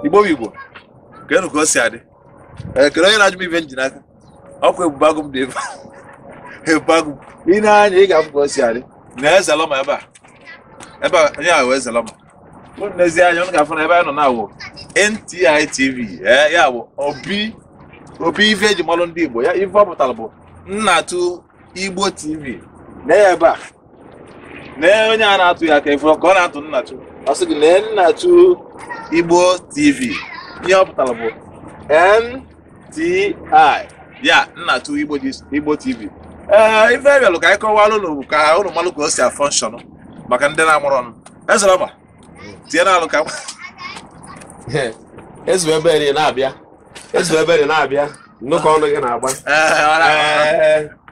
igbo igbo keenụ ka o si adị kee onye na-ajụ m ife m ji n'aka ọkwa ebube agụ m dị ebe ebube agụ i nee anya ị ga-afụ ka o si adị na ezelọma ebe a ebe a onye ahụ ezelọma nezie anya unu ga-afụ na ebe anyị nọ na-awụ NTI TV ee ya bụ obi obi ife eji malụ ndị Igbo ya ife ọ pụtara bụ nnatụ Igbo TV na ebe a na onye a na-atụ ya aka ị fụrụ ka ọ na-atụ nnatụ ọ sị gị na nnatụ Igbo TV ihe ọ pụtara bụ N TI ya nnatụ igbo tv ee ife bịalụ ka anyị kọwalụ ụnụ ka ụnụ malụ ka o si a-function maka ndị na-amụrụ ọnụ ezelọma tinye n'alụ ka ezu ebere na-abịa ezu ebere na-abịa nnukwu ọnụ gị na-agba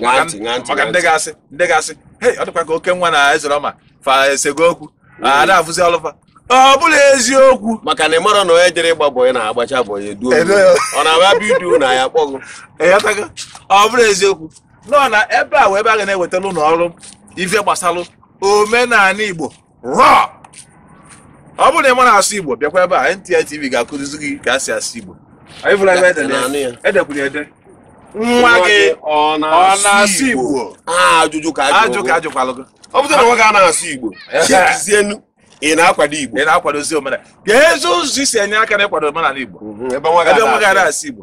maka ntị ṅaa ntị maka ṅaa ndị ntị ga-asị ndị ga-asị hei ọ dịkwa ka okenwa na ezelọma fa esego okwu a da-afụzi ọlụ fa ọ bụrọ eziokwu maka na ị mara na onye jere ịgba bọyị na-agbacha bọyị e duo e duo ya. ọ na-abịa bidu na ya kpọgụ ị ghọtago ọ bụrọ eziokwu nọ na ebe a wụ ebe a ga na-ewetara unu ọrụ ife gbasara omenala igbo raw ọ bụrụ na ị marọ asụ igbo bịakwa ebe a NTI TV ga-akụzizi gị ka a si asụ igbo anyị fụla ebe edere ya. edekwuru ede nwa gị ọ na-asụ igbo ajụjụ ka ajụ ka ajụkwalụ gị ọ bụrụ na nwa gị a na-asụ igbo chekizienu ị na-akwado igbo ị na-akwadozi omenala keezi ụzọ i si enye aka n'ịkwado omenala igbo ebe nwa gị a na-asụ igbo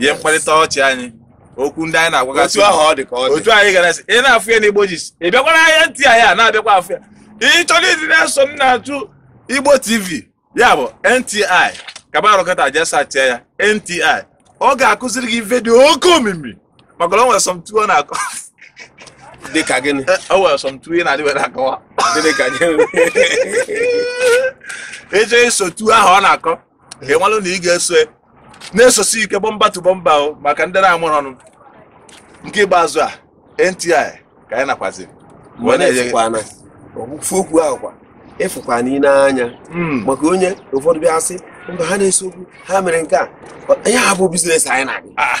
ihe mkparịta ọchị anyị okwu ndị anyị na-agwagasị otu ahụ ọ dị ka ọ dị otu anyị gara sị ị na-afụ ya n'igbo gist ị bịakwara ahịa NTI anyị a na-abịakwa afụ ya ị chọrọ ịdị na-eso nnatụ igbo tv ya bụ nti kabarụkọta jee searchịa ya nti ọ ga-akụziri gị ife dị oke omimi maka na o nwere sọmtu ọ na-akọ dị ka gịnị eh, o nwere sọmtu ị na-adịbere akọwa gịnị ka gịnị ịchọ iso tu ahụ ọ na-akọ ka ị malụ na ị ga-eso na-esosi ike bumper to bumper o maka ndị na-amụrụ ọnụ nke ikpeazụ a NTI ka anyị nakwazi ofu okwu ahụ kwa ị fụkwa na i nee anya hmm. maka onye ụfọdụ bịa sị mba ha na-ese okwu ha mere nke a ihe a bụ business anyị na-abịa ah,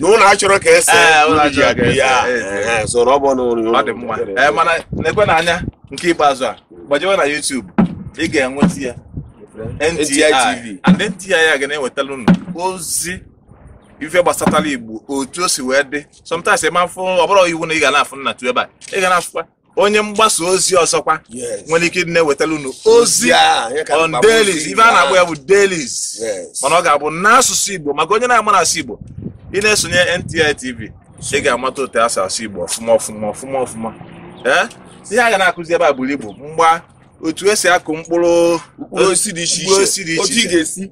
na unu achọrọ ka ese Ee, ụlọ ndị ji achọrọ aga ka ese, ya ee, ee. Ehe, so na ọ bụ na ụlọ ọ dị mma ee mana nekwanụ anya nke ikpeazụ a gbajewe na YouTube ị ga-enweta ya NTI NTI TV. and NTI a ga na-ewetara unu ozi ife gbasatara Igbo otu o si wee dị sometimes ị ma afụ ọ bụrọ iwu na ị ga na-afụ nnatụ ebe a ị ga na-afụkwa onye mgbasa ozi ọzọkwa nwere ike ịdị na-ewetara unu ozi on dailies ife a na-akpọ ya bụ dailies mana ọ ga-abụ n'asụsụ Igbo maka onye na-amarọ asụ Igbo ị na-esonye NTI TV ị ga-amata otu esi asụ Igbo ọfụma ọfụma ọfụma ọfụma ee ihe a ga na-akụzi ebe a buru ibu mgba otu esi akụ mkpụrụ osisi dị iche iche otu ị ga-esi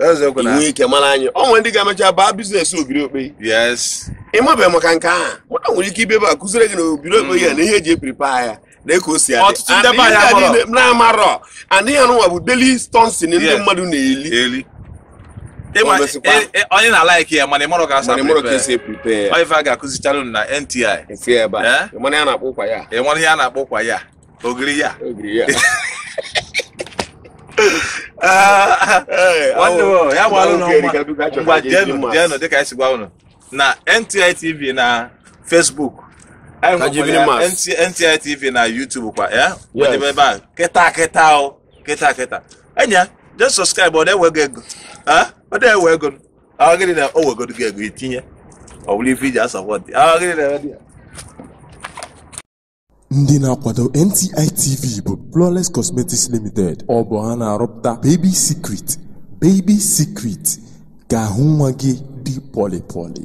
eziokwu na inwe ike mara anyị ọ nwere ndị ga-emecha baa biznes ogiri okpei yes ịmabeghị maka nke ahụ mụta nwere ike ị bịa ebe a kụziri gị na ogiri okpei ya na ihe eji epripa ya na ka o si adị Ọtụtụ ndị be anyị amarọ. na-amarọ na ihe anụnwa bụ daily something ndị Yes. mmadụ na-eli eli Ịma- O mesikwa. e- e- onye na-alaiki ya mana ị marọ ka asa mana ịmarọ ka esi epripe ya ife a ga-akụzichara unu na NTI TV ebe a Eh? mana ya na-akpọ ụkwa ya ị mara ihe a na-akpọ ụkwa ya ogiri ya ogiri ya ah, nwanne m ya gbalụ na ngwa jenụ jenụ dịka anyị si gwa unu na NTI TV na Facebook NTI TV na YouTube kwa ya wedebe ebe a kịta kịta o kịta kịta enya je sọskraịbụ ọ na-ewe gị ego ah, ọ na-ewe ego ọ gịnị na o wegodu gị ego itinye ọ bụrụ ife iji asọpọtị ọ gịnị na-eme dị ya ndị na-akwado nti tv bụ flawless cosmetics limited ọ bụ ha na-arụpụta baby secret baby secret ka ahụ nwa gị dị pọlịpọlị